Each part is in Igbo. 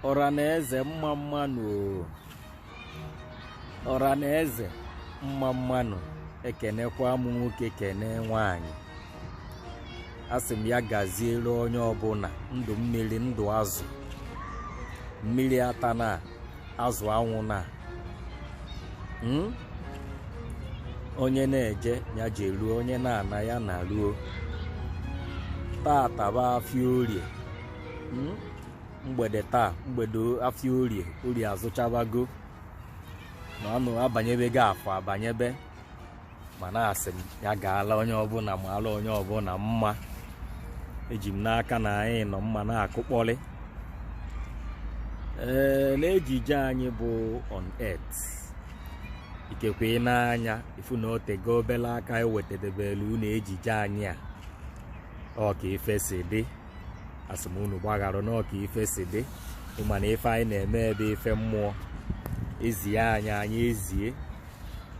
ọra na eze mma mma nụ o. ọra na eze mma mma nụ ekenekwa m nwoke kene nwanyị asị m ya gaziere onye ọbụna ndụ mmiri ndụ azụ mmiri atana azụ anwụna hmm? onye na-eje ya jeruo onye na-ana ya naruo tata bụ afịa orie hmm? mgbede taa mgbede afịa orie orie azụchabago na ọnụ abanyebego afọ abanyebe mana asị m ya gaala onye ọbụna maala onye ọbụna mma eji m n'aka na anyị nọ mma na-akụkpọrị ee n'ejije anyị bụ on earth ikekwe ị na-anya ịfụ na otego obele aka ewetedebelu unu ejije anyị a ọ ka ife si dị asị m unu gbaghara na ọ ka ife si dị ịma na ife anyị na-eme bụ ife mmụọ ezie anyị anyị ezie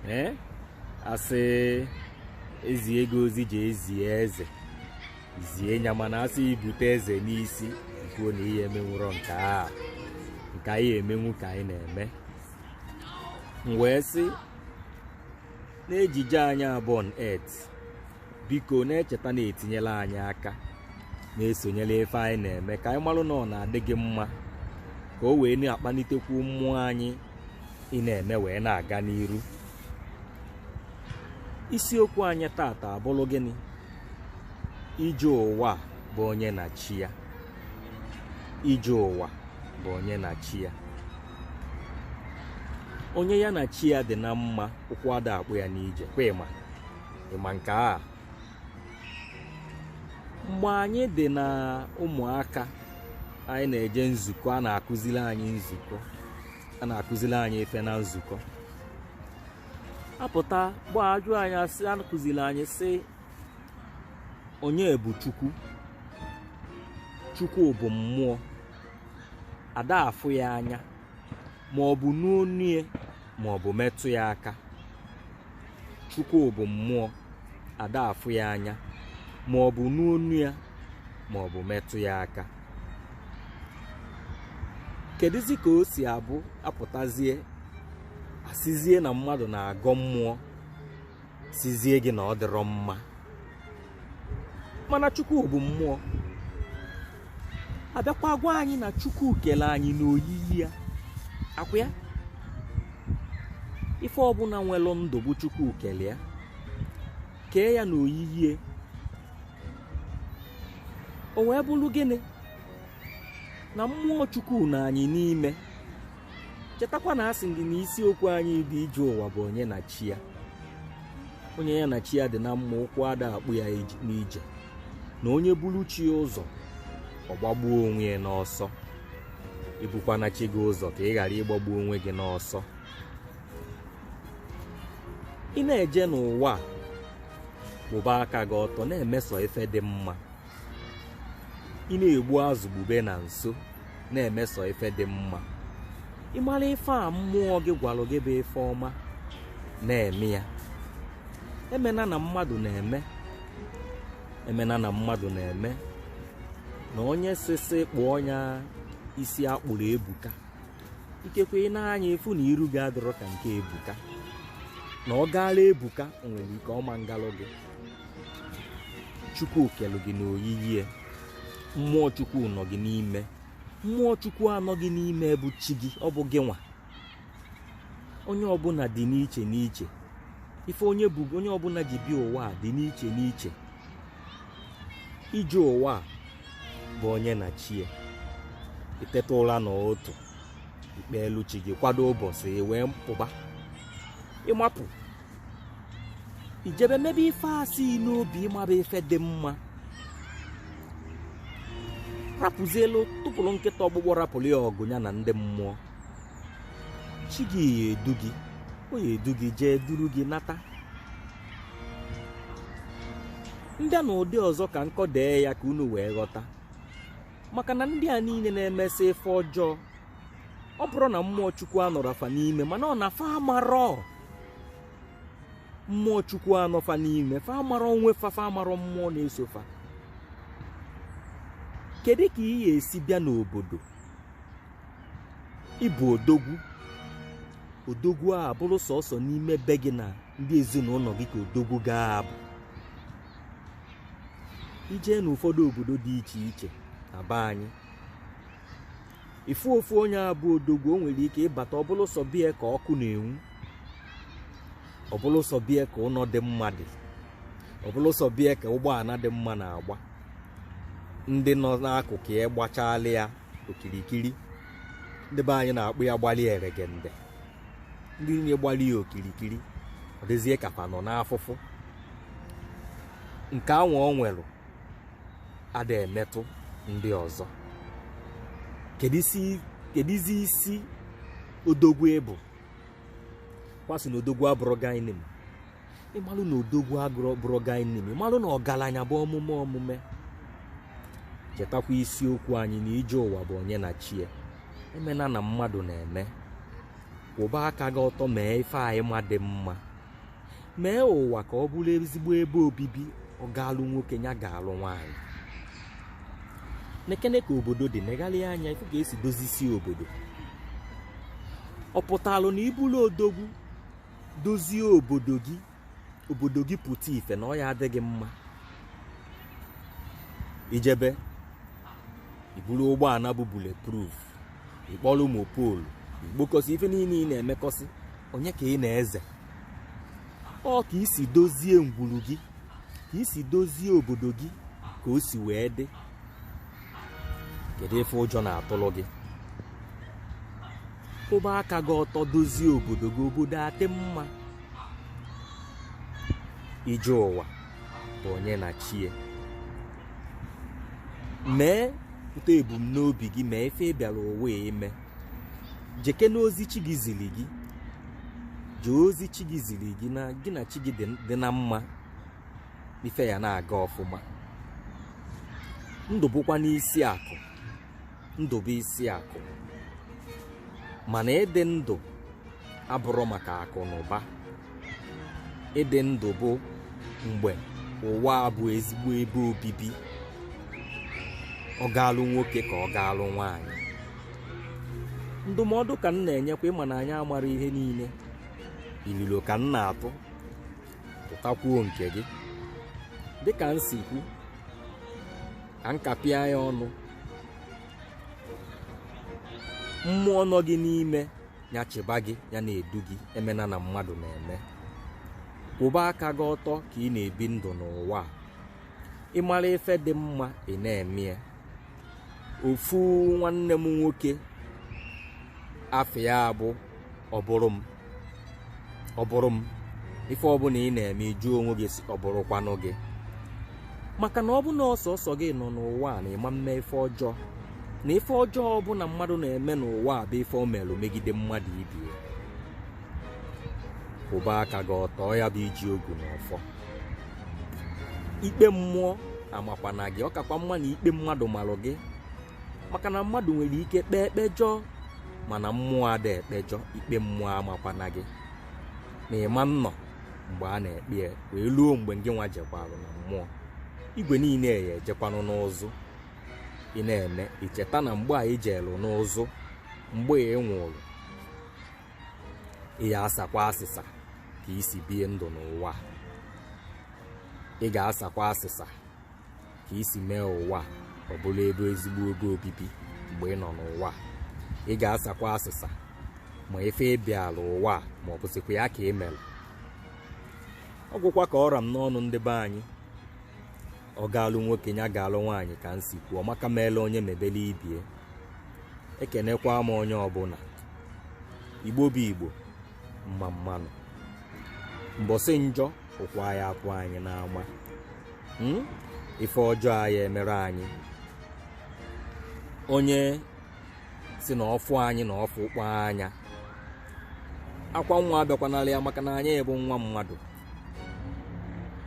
ee asị ezie gị ozi jee zie eze zie ya mana asị ibute eze n'isi kwuo na ihe emenwurọ nke a nke anyị emenwu ka anyị na-eme m wee sị n'ejije anyị a bụ on earth biko na-echeta na-etinyela anyị aka na-esonyela ife anyị na-eme ka anyị malụ na ọ na-adị gị mma ka o wee na-akpalitekwu mmụọ anyị ị na-eme wee na-aga n'iru isiokwu anyị tata abụrụ gịnị ije ụwa bụ onye na chi ya ije ụwa bụ onye na chi ya onye ya na chi ya dị na mma ụkwụ ada akpọ ya n'ije kwa ịma ịma nke a mgbe anyị dị na ụmụaka anyị na-eje nzukọ a na-akụzili anyị nzukọ a na-akụzili anyị ife na nzukọ apụta ugbua ajụọ anyị asị akụzili anyị sị onye bụ chukwu chukwu bụ mmụọ ada afụ ya anya ma ọ bụ nụ onu ya ma ọ bụ metụ ya aka chukwu bụ mmụọ ada afụ ya anya ma ọ bụ nụ onu ya ma ọ bụ metụ ya aka keduzi ka o si abụ apụtazie asịzie na mmadụ na-agọ mmụọ sizie gị na ọ dịrọ mma mana chukwu bụ mmụọ abịakwa gwa anyị na chukwu kele anyị n'oyiyi ya ọ kwa ya ife ọbụla nwelụ ndụ bụ chukwu kele ya kee ya n'oyiyi ya o wee bụrụ gịnị na mmụọ chukwu nọ anyị n'ime chetakwa na asị gị na isiokwu anyị dị ije ụwa bụ onye na chi ya onye ya na chi ya dị na mma ụkwụ ada akpọ ya n'ije na onye buru chi ya ụzọ ọ gbagbuo onwe ya n'ọsọ ibukwana chi gị ụzọ ka ị ghara ịgbagbu onwe gị n'ọsọ ị na-eje n'ụwa a kwụba aka gị ọtọ na-eme sọ ife dị mma ị na-egbu azụ gbube na nso na-eme sọ ife dị mma ị mara ife a mmụọ gị gwara gị bụ ife ọma na-eme ya emena na mmadụ na-eme emena na mmadụ na-eme na onye sị sị kpụọ ya isi a kpụrụ ebuka ikekwe i nee anya ị fụ na iru gị adịrọ ka nke ebuka na ọ gaala ebuka o nwere ike ọ ma ngalụ gị chukwu kelu gị n'oyiyi ya mmụọ chukwu nọ gị n'ime mmụọ chukwu a nọ gị n'ime bụ chi gị ọ bụ gị nwa onye ọbụla dị n'iche n'iche ife onye ọbụla ji bịa ụwa a dị n'iche n'iche ije ụwa a bụ onye na chi ya i teta ụra n'ụtụtụ i kpeelu chi gị kwado ụbọchị wee pụba ị mapụ i jebe mebe ife a si gị n'obi ị ma bụ ife dị mma rapụzielu tụpụrụ nkịta ọkpụkpụ rapụrụ ya ọgụ ya na ndị mmụọ chi gị ya-edu gị ọ ya-edu gị jee duru gị nata ndị a n'ụdị ọzọ ka m kọdee ya ka unu wee ghọta maka na ndị a niile na-emesị ife ọjọọ ọ bụrọ na mmụọ chukwu anọrọ fa n'ime mana ọ na fa amarọ mmụọ chukwu a nọ fa n'ime fa amarọ onwe fa fa amarọ mmụọ na-eso fa kedu ka ị ga-esi bịa n'obodo ị bụ odogwu odogwu a bụrụ sọsọ n'ime be gị na ndị ezinụlọ gị ka odogwu ga-abụ i jee n'ụfọdụ obodo dị iche iche na be anyị ị fụ ofu onye a bụ odogwu o nwere ike ị bata ọ bụlụ sọ be ya ka ọkụ na-enwu ọ bụlụ sọ be ya ka ụlọ dị mma dị ọ bụlụ sọ be ya ka ụgbọala dị mma na-agba ndị nọ n'akụkụ ya gbachala ya okirikiri ndị be anyị na-akpọ ya gbalị eregende ndị niile gbalị ya okirikiri ọ dịzie ka fa nọ n'afụfụ nke anwa o nwere ada emetụ ndị ọzọ kedu isi- keduzi isi odogwu ị bụ kwasị na odogwu abụrụ guy name ị malụ na odogwu abụrụ guy name ị malụ na ọgaranya bụ omume omume chetakwa isiokwu anyị na ije ụwa bụ onye na chie emena na mmadụ na-eme kwụba aka gị ọtọ mee ife anyị ma dị mma mee ụwa ka ọ bụrụ ezigbo ebe obibi ọ gaalụ nwoke ya gaalụ nwaanyị nekene ka obodo dị negharịa anya ị fụ ka e si dozisie obodo ọ pụtalụ na ị bụlụ odogwu dozie obodo gị obodo gị pụta ife na ọ ya-adị gị mma i jebe i buru ụgbọala bụ bulletproof ị kpọrọ mopol i kpokọsị ife niile ị na-emekọsị onye ka ị na-eze ọ ka i si dozie ngwuru gị ka i si dozie obodo gị ka o si wee dị kedu ife ụjọ na-atụrụ gị kwụba aka gị ọtọ dozie obodo gị obodo adị mma ije ụwa bụ onye na chie mepụta ebumnobi gị mee ife ị bịara ụwa ime jekene ozi chi gị ziri gị jee ozi chi gị ziri gị na gị na chi gị dị- dị na mma ife ya na-aga ọfụma ndụ bụkwanụ isi akụ ndụ bụ isi akụ mana ịdị ndụ abụrụ maka akụ na ụba ịdị ndụ bụ mgbe ụwa a bụ ezigbo ebe obibi ọ gaalụ nwoke ka ọ gaalụ nwaanyị ndụmọdụ ka m na-enyekwa ị ma na anyị amara ihe niile ilolo ka m na-atụ tụtakwuo nke gị dịka m si kwu ka m kapịa ya ọnụ mmụọ nọ gị n'ime ya chịba gị ya na-edu gị emena na mmadụ na-eme kwụba aka gị ọtọ ka ị na-ebi ndụ n'ụwa a ị mara ife dị mma ị na-eme ya ofu nwanne m nwoke afa ya bụ ọ bụrụ m ọ bụrụ m ife ọbụla ị na-eme ị jụọ onwe gị sị ọ bụrụkwanụ gị maka na ọ bụ na ọ sọsọ gị nọ n'ụwa a na ị ma mme ife ọjọọ na ife ọjọọ ọbụla mmadụ na-eme n'ụwa a bụ ife o merụ megide mmadụ ibie kwụba aka gị ọtọ ya bụ iji ogu na ọfọ ikpe mmụọ amakwana gị ọ kakwa mma na ikpe mmadụ marụ gị maka na mmadụ nwere ike kpee ekpejọ mana mmụọ ada ekpejọ ikpe mmụọ amakwana gị na ị ma nnọ mgbe a na-ekpe ya wee luo mgbe ngị nwa jekwarụ na mmụọ igwe niile ya-ejekwanụ n'ụzụ ị na-eme i cheta na mgbe a i jeelụ n'ụzụ mgbe ị nwụrụ ị ya-asakwa asịsa ka i si bie ndụ n'ụwa ị ga-asakwa asịsa ka i si mee ụwa ọ bụrụ ebe ezigbo ebe obibi mgbe ị nọ n'ụwa ị ga-asakwa asịsa ma ife ị bịala ụwa ma ọ bụsịkwa ya ka i mere ọ gwụkwa ka ọ ra m n'ọnụ ndị be anyị ọ gaalụ nwoke ya gaalụ nwaanyị ka m si kwuo maka meelụ onye mebelụ ibe ya ekenekwa m onye ọbụla igbo bụ igbo mma mma nụ mbọsị njọ ụkwụ ya-apụ anyị n'ama hmm? ife ọjọọ aya emere anyị onye sị na ọ fụ anyị na ọ fụkpọ anya akwa nwa abịakwanala ya maka na anyị bụ nwa mmadụ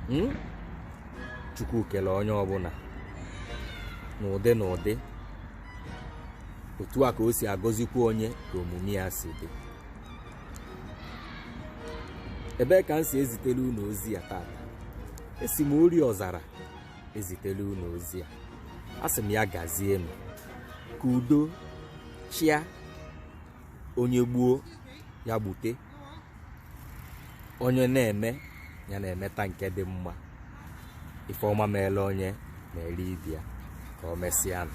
hmm? chukwu kele onye ọbụla n'ụdị n'ụdị otu a ka o si agọzikwa onye ka omume ya si dị ebee ka m si ezitele unu ozi a tata esi m ori ọzara ezitele unu ozi a asị m ya gazie m ka udo chịa onye gbuo ya gbute onye na-eme ya na-emeta nke dị mma ife ọma meelụ onye na-eri ibe ya ka o mesịa nụ